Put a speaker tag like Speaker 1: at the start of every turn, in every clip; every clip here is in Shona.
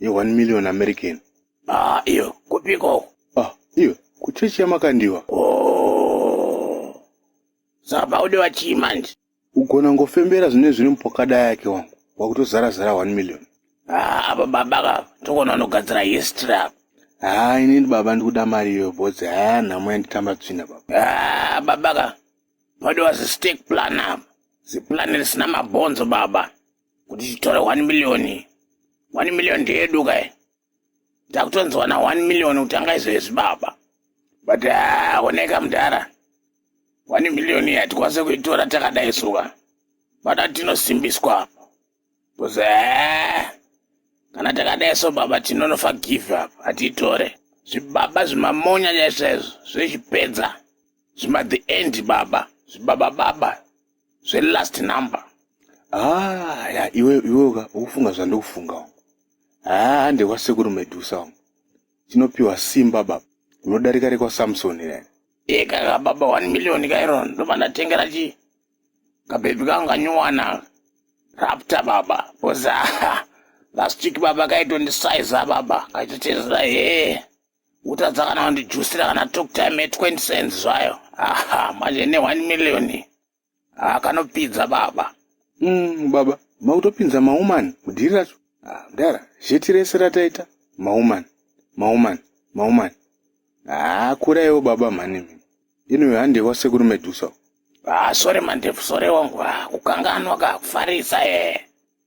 Speaker 1: ye 1 million American. Ah, iyo
Speaker 2: kupiko? Ah, iyo
Speaker 1: kuchechi yamakandiwa. Oh.
Speaker 2: Saba ude wachii manje? Ugona
Speaker 1: ngofembera zvine zviri mupokada yake wangu. Wakutozara zara 1 million. Ah, apa
Speaker 2: baba ka tokona unogadzira history apa. Ah, ini
Speaker 1: ndi baba ndikuda mari iyo boss. Ah, nhamo yanditamba tsvina baba. Ah, baba ka.
Speaker 2: Padiwa zi stake plan apa. Zi plan risina mabonzo baba. kuti titore one million one million ndeyedu kai takutonzwa na one million kutanga izvo yezvibaba but ah, oneka mudhara one million iyi hatikwanise kuitora takadai suka pada tinosimbiswa apo bcause eh, kana takadai so baba tinonofa give up hatiitore zvibaba zvimamonya chaizvo izvo zvechipedza zvima the end baba zvibaba baba, baba. zvelast number ah,
Speaker 1: ya iwe iweka ukufunga zvandikufunga wangu haa ah, ndekwasekuru medusa wangu tinopiwa simba baba unodarika rekwasamsoni rene ikaka baba
Speaker 2: one million kairon ndobva ndatengera chii kabhebhi kangu kanyuwana rapta baba boza last week baba kaitondisaiza baba kaitotezera hee utadza kana kundijusira kana talk time e 20 cents zvayo aha manje ne 1 million ah, kanopidza baba mm, baba
Speaker 1: makutopinza maumani mudhiri racho ah, mdara zheti rese rataita maumani maumani maumani haa ah, kuraiwo baba mhani mimi inoyo hande wasekuru medusa ah, sore
Speaker 2: mandefu sore wangu ah, kukanganwa ka kufarisa ee eh.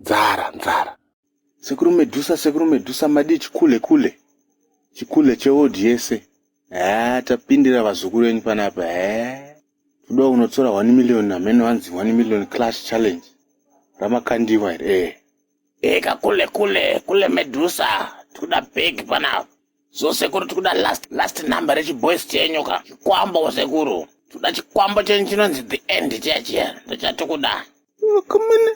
Speaker 1: nzara nzara sekuru medusa sekuru medusa madii chikule kule chikule cheod yese haa tapindira vazukuru venyu panapa haa toda unotora 1 million hameno hanzi 1 million clash challenge ramakandiwa here ee eka kule kule kule
Speaker 2: medusa tikuda bhegi panapa So sekuru tikuda last last number rechiboys chenyu ka chikwambo sekuru. Tikuda chikwambo chenyu chinonzi the end chiya chiya ndochatikuda. Vakomana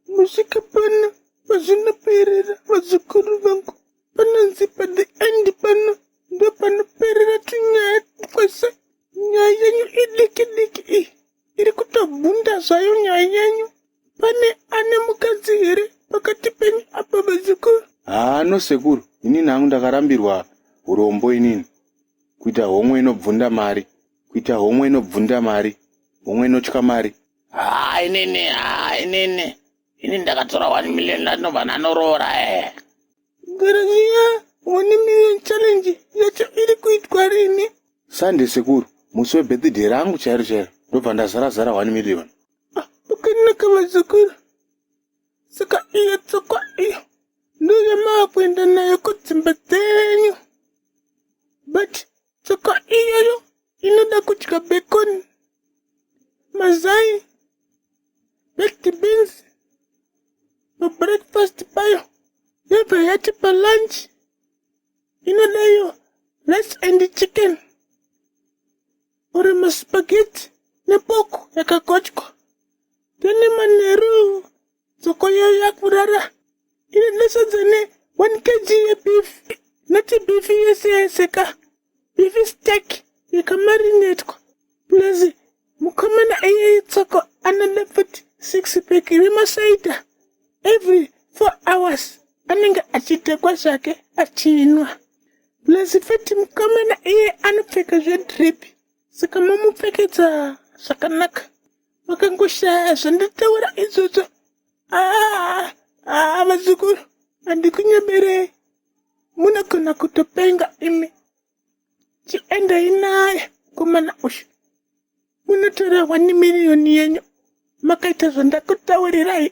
Speaker 3: musvika pano pazvinoperera vazukuru vangu panonzi pa the end pano ndopanoperera tunyaya twese nyaya yenyu idiki diki iyi iri kutobvunda zvayo nyaya yenyu pane ane mukadzi here pakati penyu apa vazukuru haa no sekuru
Speaker 1: inini hangu ndakarambirwa urombo inini kuita homwe inobvunda mari kuita homwe inobvunda mari homwe inotya mari haa inini haa inini
Speaker 2: ini ndakatora one million landinobva nanoroora e eh. garaziya
Speaker 3: one million challenge yacho iri kuitwa rini sunday sekuru
Speaker 1: musi webirthday rangu chairo chairo ndobva ndazara zara one million ah, pakanaka
Speaker 3: vazukuru saka iyo tsokwa iyo ndoyamava kuenda nayo kudzimba dzenyu but tsokwa iyoyo inoda kudya bekoni mazai baked beans pabreakfast payo yobva yati palunch inoda iyo rice and chicken uri maspageti nepoko yakagochwa then manheru dzoko yayo yakurara Ini ndasonza ne 1 kg yebeef. Noti beef yese yese ka. Beef steak yakamarinetwa. Plus mukomana iye itsoko anoda futi 6 pack remasaita. Every 4 hours anenge achitekwa zvake achinwa. Plus futi mukomana iye anopfeka zvedrip. Saka mamupfekedza zvakanaka. Makangoshaya zvandataura izvozvo. Ah, ah, vazukuru, handikunyeberei. Munogona kutopenga imi. Chiendai naye komana uyu. Munotora wani miriyoni yenyu. Makaita zvandakutaurirai.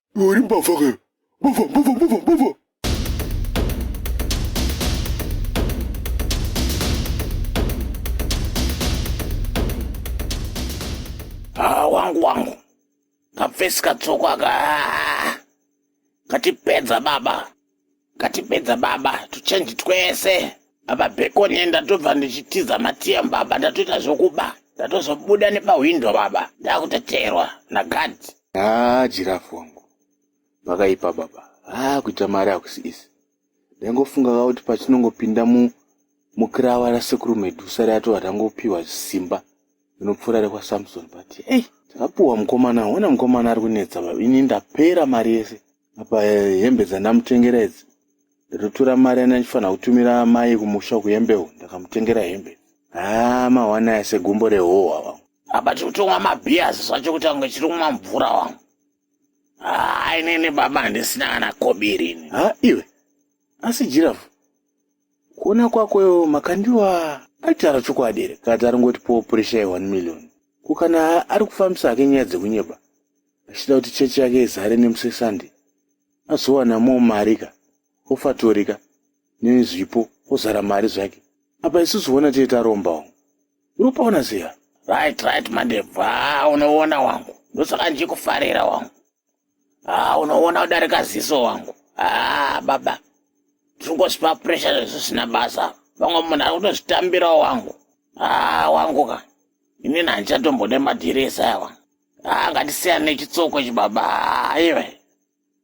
Speaker 1: Iwe uri mbavha kayo. Mbavha, mbavha, mbavha, mbavha.
Speaker 2: Ah, wangu wangu. Kapfesi katsoko aka. ah, Katipedza baba. Ngatipedza baba to change twese. Baba Bacon enda tobva ndichitiza matiya baba ndatoita zvokuba. Ndatozobuda nepahwindo baba ndakuteterwa naguard. Haa jirafu
Speaker 3: wangu pakaipa baba. Haa kuita mari hakusi isi. Ndaingofunga ka kuti patinongopinda mu mukirawa rasekuru Medusa riyatova tangopiwa simba rinopfuura rekwaSamson but ei. Hey. Takapuwa mukomana, wena mukomana ari kunetsa baba. Ini ndapera mari yese. apa hembe dzandamutengera idzi ndotora mari yandandifanira kutumira mai kumusha kuyembewo ndakamutengera hembe haa mahwana aya segumbo rehohwa vangu apa tiri kutomwa
Speaker 2: mabhiyazi zvacho kuti ange chiri kumwa mvura wangu haa inini baba handisina kana kobiri ini ha iwe
Speaker 3: asi jirafu kuona kwakoyo makandiwa aitaura chokwadi here kati aringoti powo purisha ye1 million ko kana ari kufambisa hake nyaya dzekunyepa achida kuti chechi yake izare nemusesande azowana mo mari ka ofatori ka neni zvipo ozara mari zvake apa isusu vona tee tarombawo uri kupaona seya right right
Speaker 2: mandebva unoona wangu ndosaka ndichikufarira wangu haa ah, unoona udarika ziso wangu haa ah, baba ndikungozvipa presha zvezvisina basa vamwe munhu ari kutozvitambirawo wangu haa ah, wangu ka inini handichatombode madhiresa aya wangu Ah, ngatisiyane nechitsoko ichi baba aiwe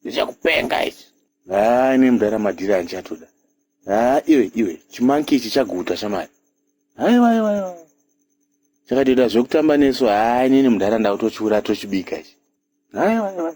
Speaker 2: ndichakupenga ichi haa ine mudara
Speaker 3: madhiri andichatoda haa iwe iwe chimanki ichi chaguta shamari aiwa aiwa aiwa chakatoita zvekutamba nesu haa inini mudhara ndakutochiura tochibika ichi aiwa aiwa